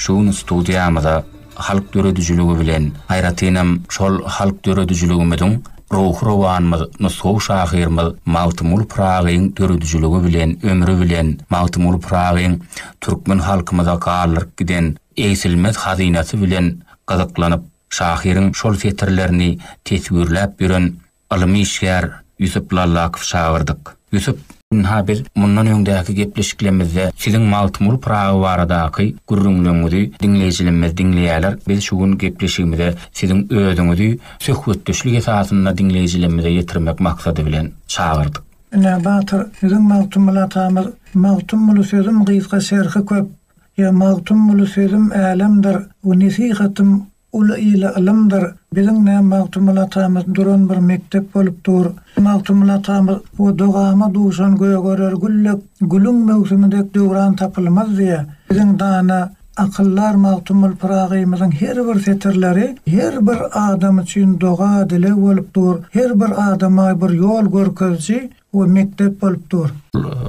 Şu gün studiýamyza halk döredijiligi bilen, aýratynam şol halk döredijiligimiziň ruhy rowanymyz, nusgawy şahyrymyz Magtymguly Pyragyň döredijiligi bilen, ömri bilen Magtymguly Pyragyň türkmen halkymyza galdyryp giden egsilmez hazynasy bilen gyzyklanyp, şahyryň şol setirlerini teswirläp ýören Ylym işgär Ýusup Lallakow çagyrdyk. Ýusup, ynha biz mundan öňdäki gepleşiklemizde siziň Magtymguly Pyragy baradaky gürrüňleriňizi diňleýjilemmiz diňleýäler, biz şu gün gepleşigimize siziň özüňizi söhbetdeşlik esasynda diňleýjilemmize ýetirmek maksady bilen çagyrdyk. Ine, batyr, siziň Magtymguly atamyz, Magtymguly sözüm gysga şerhi köp, ýa Magtymguly sözüm älemdir, bu nesihatym, Uly ýyly ylymdyr. Biziň ne Magtymguly atamyz duran bir mekdep bolup dur. Magtymguly atamyz bu dogama duşan gögerer gül dek, gülüň möwsümi dek döwran tapylmaz diýe. Biziň dana, akyldar Magtymguly Pyragymyzyň her bir setirleri her bir adam üçin doga, dileg bolup dur. Her bir adama bir ýol görkeziji, we mekdep bolup dur.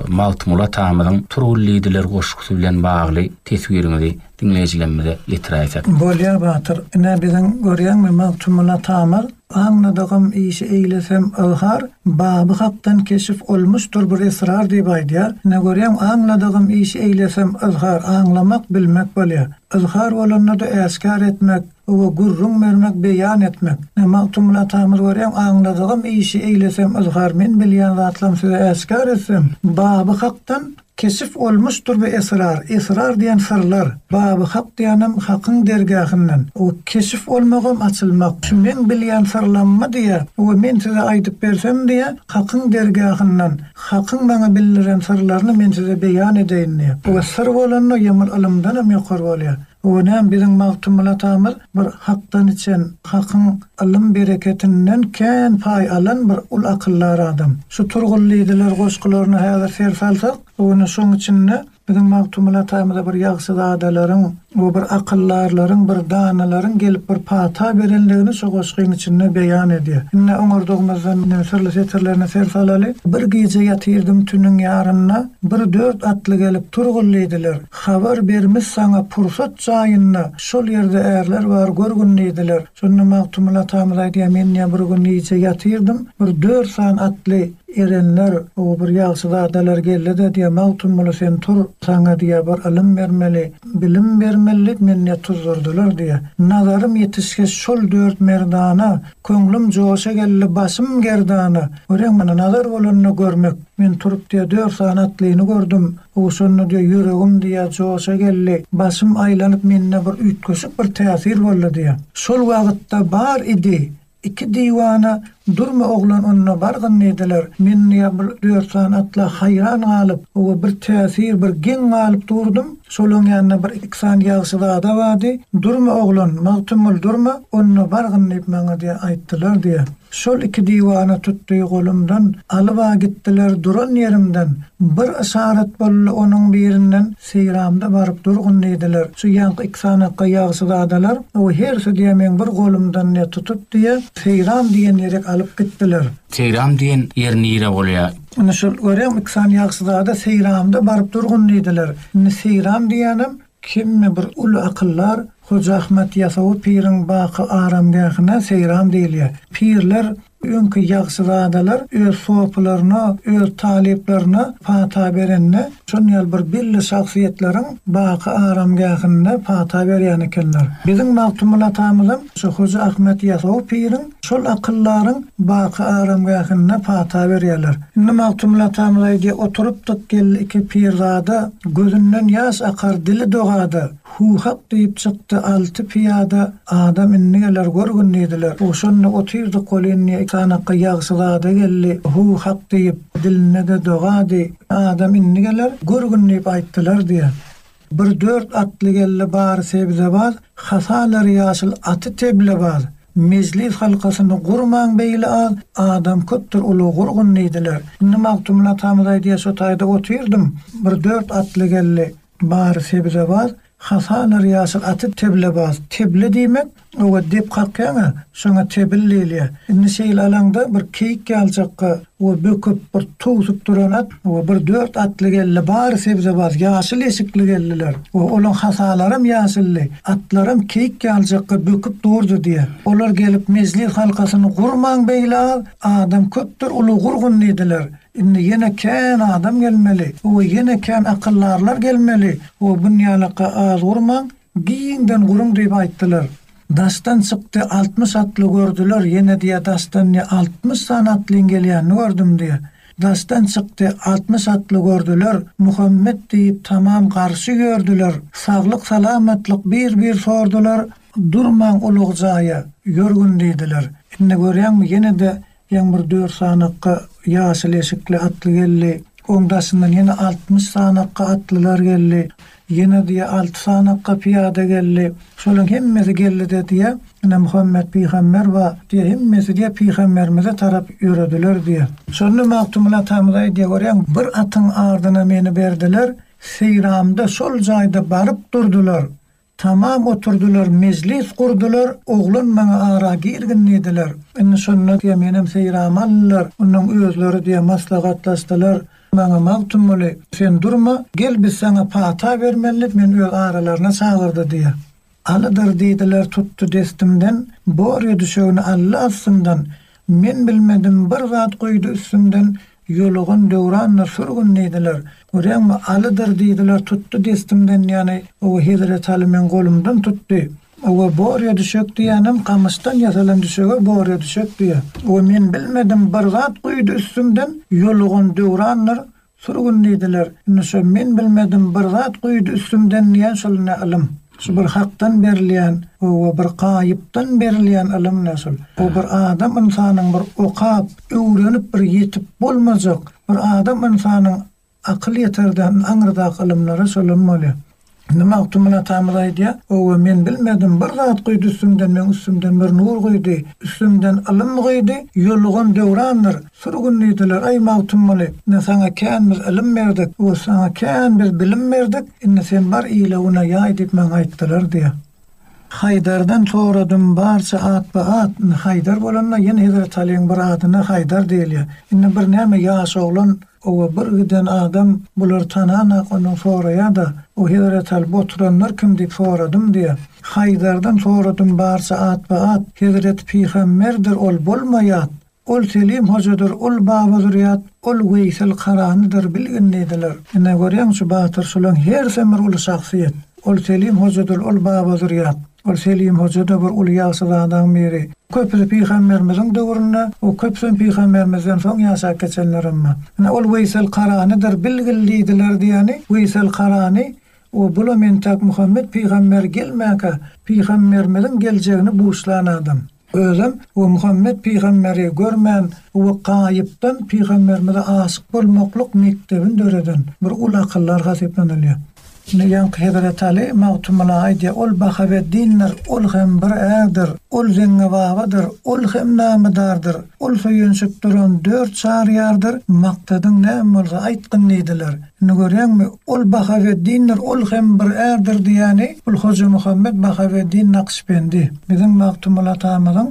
Magtymguly atamyzyň Turgullydylar goşgusy bilen bagly teswiriňizi diňleýjilerimize ýetiräýsek. Bolýa Batyr ine biziň görýäňmi Magtymguly atamyz aňladygym işi eýlesem yzhar Baby hakdan keşif olmuşdyr bir esrar diýip aýdýar ine görýäň aňladygym işi eýlesem yzhar aňlamak bilmek bolýa yzhar bolanda-da äşgär etmek Oba gürrüň bermek beýan etmek. Ne Magtymguly atamyz görýäň aňladygym işi eýlesem yzhar men bilýän zatlam size äşgär etsem Baby Hakdan keşif olmuşdyr bu esrar esrar diýen syrlar Baby Hak diýenem Hakyň dergähinden oba keşif olmagam açylmak şu meň bilýän syrlammy diýä oba men size aýdyp bersem diýä Hakyň dergähinden Hakyň maňa bildiren syrlaryny men size beýan edeýin diýä oba syr bolanda ýamyl ylymdanam ýokary bolýa O näm biziň Magtymguly atamyz bir hakdan içen, hakyň ylym bereketinden kän paý alan bir uly akyldar adam. Şu Turgullydylar goşgularyna häzir ser salsak, bu günü şoň içinde biziň Magtymguly atamyza bir ýagşyzadalaryň, o bir akyldarlaryň, bir danalaryň gelip bir pata berenligini şu goşgyň içinde beýan edýär. Indi oňardygymyzdan indi syrly setirlerine ser salaly. Bir gije ýatyrdym tüniň ýarynda, bir dört atly gelip Turgullydylar. Habar ber mis saňa pursat jaýynda şol ýerde ärler bar gör gün diýdiler şonda Magtymguly atamyz aýdýar men diýýär bir gün gije ýatyrdym bir dört sany atly erenler o bir ýagşyzadalar geldide diýýär Magtymguly sen tur saňa diýýär bir ylym bermeli bilim bermelidik meni diýýär tuzdurdylar diýýär nazarym ýetişge şol dört merdana köňlüm joşa geldi başym gerdana göreň mana nazar bolanda görmek men turup diýýär dört sany atlyny gördüm Gowy şonda diýýär, ýüregim diýýär joşa geldi, başym aýlanyp mende bir üýtgeşik bir täsir boldy diýýär. Şol wagytda bar idi, iki diwana durma oglan onda bargyn diýdiler. Men diýýär bu dört sany atla haýran galyp we bir täsir bir geň galyp durdum. Şolaň ýanynda bir iki sany ýagşy zada bardy. Durma oglan, Magtymguly durma onda bargyn diýip maňa diýýär aýtdylar diýýär. Şol iki diwana tutdy golumdan, Alyba gitdiler duran ýerimden. Bir yşarat boldy onuň birinden, Seýramda baryp durgun diýdiler. Şu ýaňky iki sanakga ýagşyzadalar, O hersi diýýä meň bir golumdan ne tutup diýýä, Seýram diýen ýerek alyp gitdiler. Seýram diýen ýer nire bolýa? Indi şol görýäňmi iki sany ýagşyzada Seýramda baryp durgun diýdiler. Indi Seýram diýýänem Kimmi bir uly akyldar Hoja Ahmet Ýasawy piriň baky aramgähine seýram diýilýär. Pirler, öňki ýagşyzadalar öz sopylaryna, öz talyplaryna pata berende, şon ýaly bir belli şahsyýetleriň baky aramgähinde pata berýän ekenler. Biziň Magtymguly atamyzam şu Hoja Ahmet Ýasawy piriň Şol akyldaryň baky aramgähinde pata berýärler. Indi Magtymguly atamyz aýdýar, Oturypdyk geldi iki pirzada, Gözünden ýaş akar, dili dogada. Hu hak diýip çykdy alty pyýada, Adam indi geler görgün diýdiler. Ogşanda otyrdyk ol indi, Sanakga ýagşyzada geldi, Hu hak diýip, dilinde-de dogady. Adam indi geler görgün diýip aýtdylar diýýär. Bir dört atly geldi bary sebzebaz, Hasalar ýaşyl aty teblebaz. Mejlis halkasyny gurmaň beýle az, Adam köpdür ulag gurgun diýdiler. Indi Magtymguly atamyz aýdýar, Şo taýda otyrdym, bir dört atly geldi, bary sebzebaz, Hasalar ýaşyl aty teblebaz. Teble diýmek, Owa, dep kakýaň-a, şoňa tebil diýilýär. Indi şeýle alaňda bir keýik ýaljakga, owa, böküp, bir towsup duran at, owa, bir dört atly geldi, bary sebzebaz, ýaşyl eşikli geldiler. Owa, olaň hasalaram ýaşyldy, atlaram keýik ýaljakga böküp durdy diýýär. Olar gelip mejlis halkasyny gurmaň beýle az, adam köpdür, uly gurgun diýdiler. Indi ýene kän adam gelmeli, owa, ýene kän akyldarlar gelmeli, owa, bunýalaka az gurmaň, Giňden guruň diýip aýtdylar. Daşdan çykdy, altmyş atly gördüler, ýene diýýär, daşdan diýýär, altmyş sany atlyň gelýänini gördüm diýýär. Daşdan çykdy, altmyş atly gördüler, Muhammet diýip, tamam garşy ýördüler, saglyk-salamatlyk bir-bir sordular, Durmaň ulug jaýa, ýörgün diýdiler. Indi görýäňmi, ýene-de Öň bir dört sanakga ýaşyl eşikli atly geldi. Oň daşyndan ýene altmyş sanakga atlylar geldi. Ýene diýýär, alty sanakga pyýada geldi. Şolaryň hemmesi geldi-de diýýär, ine, Muhammet pygamber bar, diýýär, hemmesi diýýär, pygamberimize tarap ýörediler diýýär. Şonda Magtymguly atamyz aýdýar, görýäňmi, bir atyň ardyna meni berdiler, seýramda şol jaýda baryp durdular. Tamam oturdylar mejlis gurdylar oglan maňa ara girgin diýdiler indi şonda diýe menem seýramy aldylar ondan özleri diýe maslahatlaşdylar maňa Magtymguly sen durma gel biz saňa pata bermeli men öz aralaryna çagyrdy diýe Alydyr diýdiler tutdy destimden borýa düşegini aldy astymdan men bilmedim bir zat guýdy üstümden Ýolugan Döwrandyr sürgün diýdiler. Görýäňmi, Alydyr diýdiler, tutdy destimden, ýany, oba Hezreti Aly meň golumdan tutdy. Oba Borýa düşek diýýänem gamyşdan ýasalan düşege Borýa düşek diýýär. Oba men bilmedim, bir zat guýdy üstümden, Ýolugan Döwrandyr sürgün diýdiler. Indi şo men bilmedim, bir zat guýdy üstümden diýýän şol ine ylym. Şu bir hakdan berilýän oba bir gaýypdan berilýän ylym näşol. Bu bir adam ynsanyň bir okap, öwrenip bir ýetip bolmajak, bir adam ynsanyň akyl ýeterden aňyrdaky ylymlary şolam bolýar. Indi Magtymguly atamyz aýdýar, Oba men bilmedim, bir zat guýdy üstümden, meň üstümden bir nur guýdy, üstümden ylym guýdy, ýolugam döwrandyr, Sürgün diýdiler, Eý, Magtymguly, indi saňa kän biz ylym berdik, bu saňa kän biz bilim berdik, indi sen bar ile güne ýaý diýip maňa aýtdylar diýýär. Haýdardan soradym barça atba-at, indi Haýdar bolanda ýene Hezreti Alyň bir adyna Haýdar diýilýär. Indi bir näme ýaş oglan owa bir giden adam bulary tananok, ondan soraýa-da, Bu Hezreti Aly, bu oturanlar kim diýip soradym diýýär. Haýdardan soradym barça atba-at, Hezreti Pygamberdir ol bolma ýat. Ol Selim hojadyr, ol Baba Zürýat, ol Weýsel Karanydyr bilgin diýdiler. Ine, görýäňçi, batyr, şolaň hersem bir uly şahsyýet. Ol Selim hojadyr, ol Baba Zürýat. Ol Selim hoja-da bir uly ýagşyzadaň biri. Köpüsi pygamberimiziň döwründe, o köpüsem pygamberimizden soň ýaşap geçenler emma. Ine, ol Weýsel Karanydyr bilgil diýdiler diýýäni, Weýsel Karany, o bulam entäk Muhammet pygamber gelmänkä pygamberimiziň geljegini buşlan adam. Özem we Muhammet pygamberi görmän we gaýypdan pygamberimize aşyk bolmaklyk mekdebini döreden bir uly akyllar hasaplanylýar. Ine ýaňky Hezreti Aly Magtymgula aýdýar, Ol Bahaweddindir, ol hem bir ärdir, ol Zeňňebabadyr, ol hem namedardyr, ol söýenişip duran dört çary ýardyr, maksadyň näme bolsa aýtgyn diýdiler. Indi görýäňmi, ol Bahaweddindir, ol hem bir ärdir diýýäni, ol Hojamuhammet Bahaweddin Naksbendi, biziň Magtymguly atamyzyň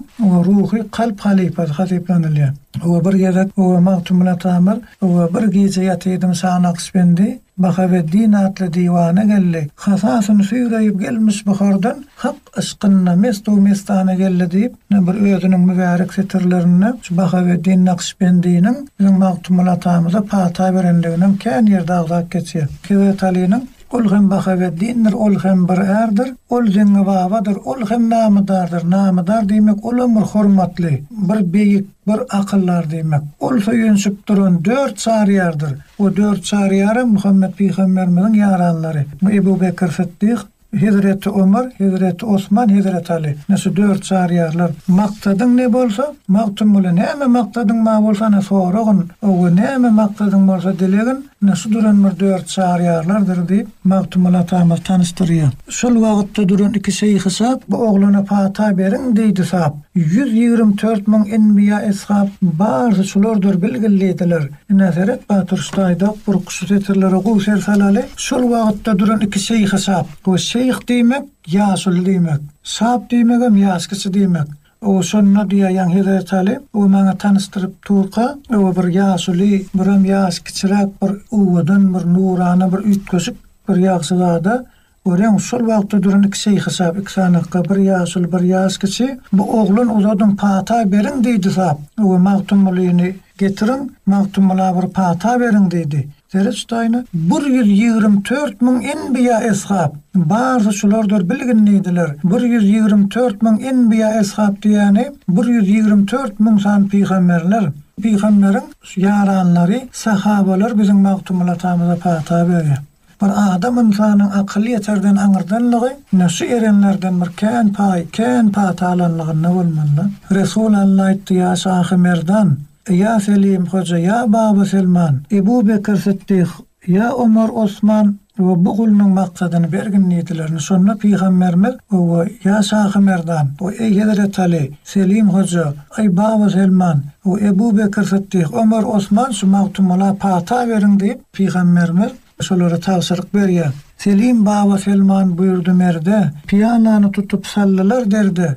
ruhy kalp halypasy hasaplanylýar. Oba bir gezek, oba Magtymguly atamyz, oba bir gije ýatyrdym şa Naksbendi, Bahaweddin atly diwana geldi, hasasyny süýreýip gelmiş Buhardan, hak Yşkynda mestu-mestana geldi diýip, ine bir özüniň mübärek setirlerinde şu Bahaweddin Nakşbendiniň biziň Magtymguly atamyza pata berendigini hem kän ýerde agzap geçýär. Hezreti Alynyň, Ol hem Bahaweddindir, ol hem bir ärdir, ol Zeňňi babadyr, ol hem namydardyr, namydar diýmek, ol hem bir hormatly, bir beýik, bir akyldar diýmek. Ol söýünşip duran dört Çaryýardyr. O dört Çaryýar hem Muhammet pygamberimiziň ýaranlary. Ebu Bekr Sytdyk, Hezreti Omar, Hezreti Osman, Hezreti Aly, ine şu dört çaryýarlar, Maksadyň ne bolsa, Magtymguly, näme maksadyň ma bolsa, ine soragyn, owe, näme maksadyň bolsa, dilegin, ine şu duran bir dört çaryýarlardyr diýip, Magtymguly atamyz tanyşdyrýar. Şol wagtda duran iki şeýhi sap, Bu oglana pata beriň, diýdi sap. Ýüz ýigrimi tört müň enbiýa-eshap, barysy şulardyr bilgil diýdiler. Ine, seret, Baturşda aýdak buruk, şu setirlere gowy ser salaly. Şol wagtda duran iki şeýhe şap. Bu şeýh diýmek, ýaşuly diýmek. Şap diýmegem, ýaş kişi diýmek. Oba şonda diýäýýäň Hezretaly, oba maňa tanyşdyryp durka, oba bir ýaşuly, biram ýaş kiçiräk bir owadan, bir nurana, bir üýtgeşik bir ýagşy zada, Göreň, şol wagtda duran iki şeýhişap, iki sanakga, bir ýaşuly, bir ýaş kişi, Bu oglan uzadyň, pata beriň! diýdi sap. Öe, Magtymgulyny getiriň, Magtymgula bir pata beriň! diýdi. Zereç daýna, Bir ýüz ýigrimi tört müň enbiýa-eshap, barysy şulardyr bilgin diýdiler. Bir ýüz ýigrimi tört müň enbiýa-eshap diýýäni, bir ýüz ýigrimi tört müň sany pygamberler. Pygamberiň ýaranlary, sahabalar biziň Magtymguly atamyza pata berýär. Bir adam ynsanyň akyl ýeterden aňyrdanlygy ine şu erenlerden bir kän paý, kän pata alanlygynda bolmalydy. Resul Alla aýtdy, Ýa Şahy Merdan! Ýa Selim Hoja! Ýa Baba Selman! Ebu Bekir Sytdyk! Ýa Omar Osman! Owe, bu gulunyň maksadyny bergin diýdilerini. Şonda pygamberimiz, Owe, ýa Şahy Merdan! Owe, eý Hezreti Aly! Selim Hoja! Eý Baba Selman! Owe, Ebu Bekir Sytdyk! Omar Osman! Şu Magtymgula pata beriň diýip, Pygamberimiz şolara tabşyryk berýär. Selim baba Selman buýurdy merde, Pyýanany tutup saldylar derde.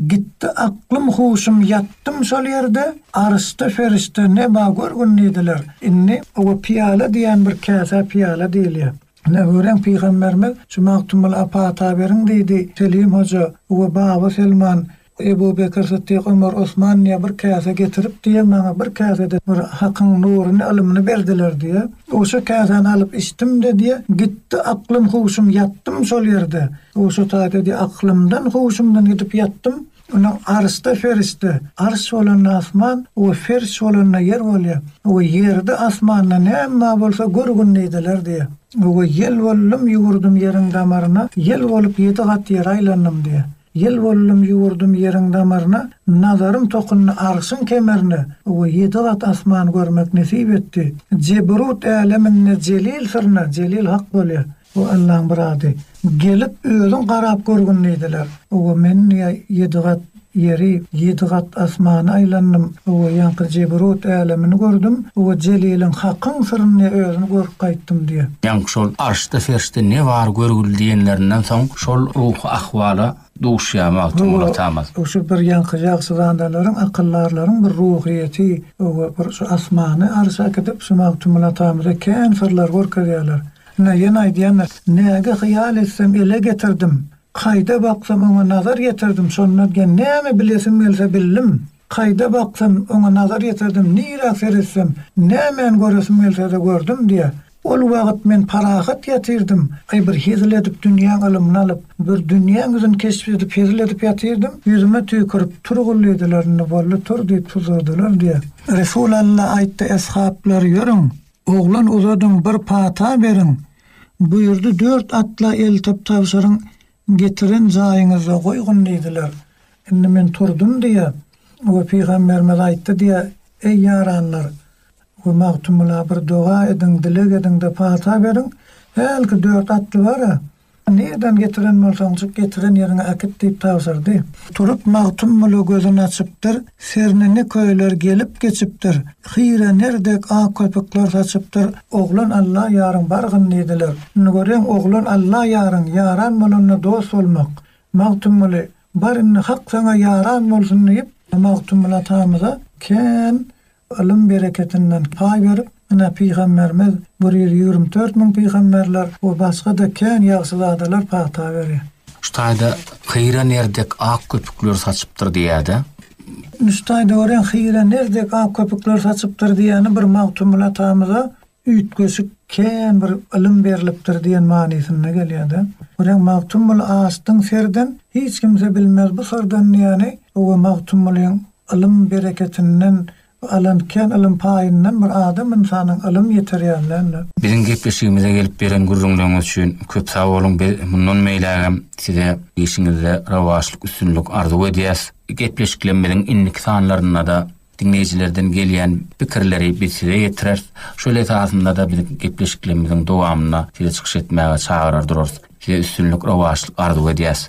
Gitdi aklym-huşum ýatdym şol ýerde, Aryşda perişde ne ba görgün diýdiler. Indi oba pyýala diýen bir käsä pyýala diýilýär. Ine görüň pygamberimiz şu Magtymguly Apa ata beriň diýdi. Selim hoja oba baba Selman. Ebu Bekr Sytdyk Ömer Osmanlyýa bir käse getirip diýýär, maňa bir käse-de bir Hakyň nuruny, ylymyny berdiler diýýär. Oşa käsäni alyp içdim-de diýýär, gitdi aklym-huşum, ýatdym şol ýerde. Oşa taýda diýýär, aklymdan-huşumdan gidip ýatdym. Indi arşda perişde, arş bolanda asman, o perş bolanda ýer bolýar. O ýerde, asmanda näm bar bolsa gör gündideler diýýär. Oba ýel boldum, ýugurdym ýeriň damaryna, ýel bolup ýedi gat ýeri aýlandym diýýär. Ýel boldum ýüwürdüm ýeriň damaryna, Nazarym tokundy arşyň kemerine, We ýedi gat asman görmek nesip etdi. Jebrut äleminde Jelil syryna, Jelil Hak bolýar, bu Allaň bir ady, Gelip özüň garap görgün diýdiler, We men ýedi gat ýeri, ýedi gat asmany aýlandym, We ýaňky Jebrut älemini gördüm, We Jeliliň Hakyň syryny özün görüp gaýtdym diýýär. Ýaňky şol arşda serişde ne bar görgül diýenlerinden soň, Şol ruhy ahwala duşýar Magtymguly atamyz. Bu şu bir ýaňky ýagşyzadalaryň, akyldarlaryň bir ruhyýeti we bir şu asmany arşa äkidip, şu Magtymguly atamyza kän syrlary görkezýärler. Ine, ýene aýdýandyr, Näge hyýal etsem, ele getirdim, Kaýda baksam, oňa nazar ýetirdim, Şonda diýen, näme bilesim gelse, bildim. Kaýda baksam, oňa nazar ýetirdim, Nirä seretsem, nämäni göresim gelse-de, gördüm diýýär. Ol wagyt men parahat ýatyrdym, aý bir hezil edip dünýäň ylymyny alyp, bir dünýäň ýüzüni keşp edip hezil edip ýatyrdym, ýüzüme tüýkürip, Tur gul diýdiler, indi boldy, tur diýip tuzladylar diýýär. Resul Alla aýtdy, Eshablar, ýörüň, oglan uzadyň, bir pata beriň! Buýurdy, Dört atla eltip tabşyryň, Getiren jaýyňyzda goýgun diýdiler. Indi men turdum diýýä we pygamberimiz aýtdy diýýä, Eý ýaranlar! We Magtymgula bir doga ediň, dileg ediň-de pata beriň. Hälki dört atly bar-a, nirden getiren bolsaňjyk, getiren ýeriňe äkit diýip tabşyrdy. Turup Magtymgula gözün açypdyr. Serne ne köyler gelip geçipdir, Hyre nerdek ak köpükler saçypdyr, Oglan Alla ýaryň bargyn diýdiler. Indi görýän oglan Alla ýaryň ýaran bolanda dost bolmak. Magtymguly, Bar indi hak saňa ýaran bolsun diýip, Magtymguly atamyza kän ylym bereketinden paý berip, Ine, pygamberimiz bir ýüz ýigrimi dört müň pygamberler we başga-da kän ýagşy zadalar pata berýär. Şu taýda hyra ner dek ak köpükler saçypdyr diýýär-de. Ine, şu taýda örän hyra ner dek ak köpükler saçypdyr diýýäni bir Magtymguly atamyza üýtgeşik kän bir ylym berlipdir diýen manysynda gelýär-de. Örän Magtymguly açdyň serden, hiç kimse bilmez bu syrdan diýýäni, bu we Magtymgulyň ylym bereketinden Bu alan kän ylym paýyndan bir adam ynsanyň ylym ýetirýänden. Biziň gepleşigimize gelip beren gürrüňleriňiz üçin köp sag boluň biz mundan beýlägem size işiňizde rowaçlyk üstünlik arzuw edýäs. Gepleşiklerimiziň indiki sanlaryndada diňleýjilerden gelýän pikirleri biz size ýetireris. Şol esasynda-da biz gepleşiklerimiziň dowamynda sizi çykyş etmäge çagyrar durarys. Size üstünlik rowaçlyk arzuw edýäs.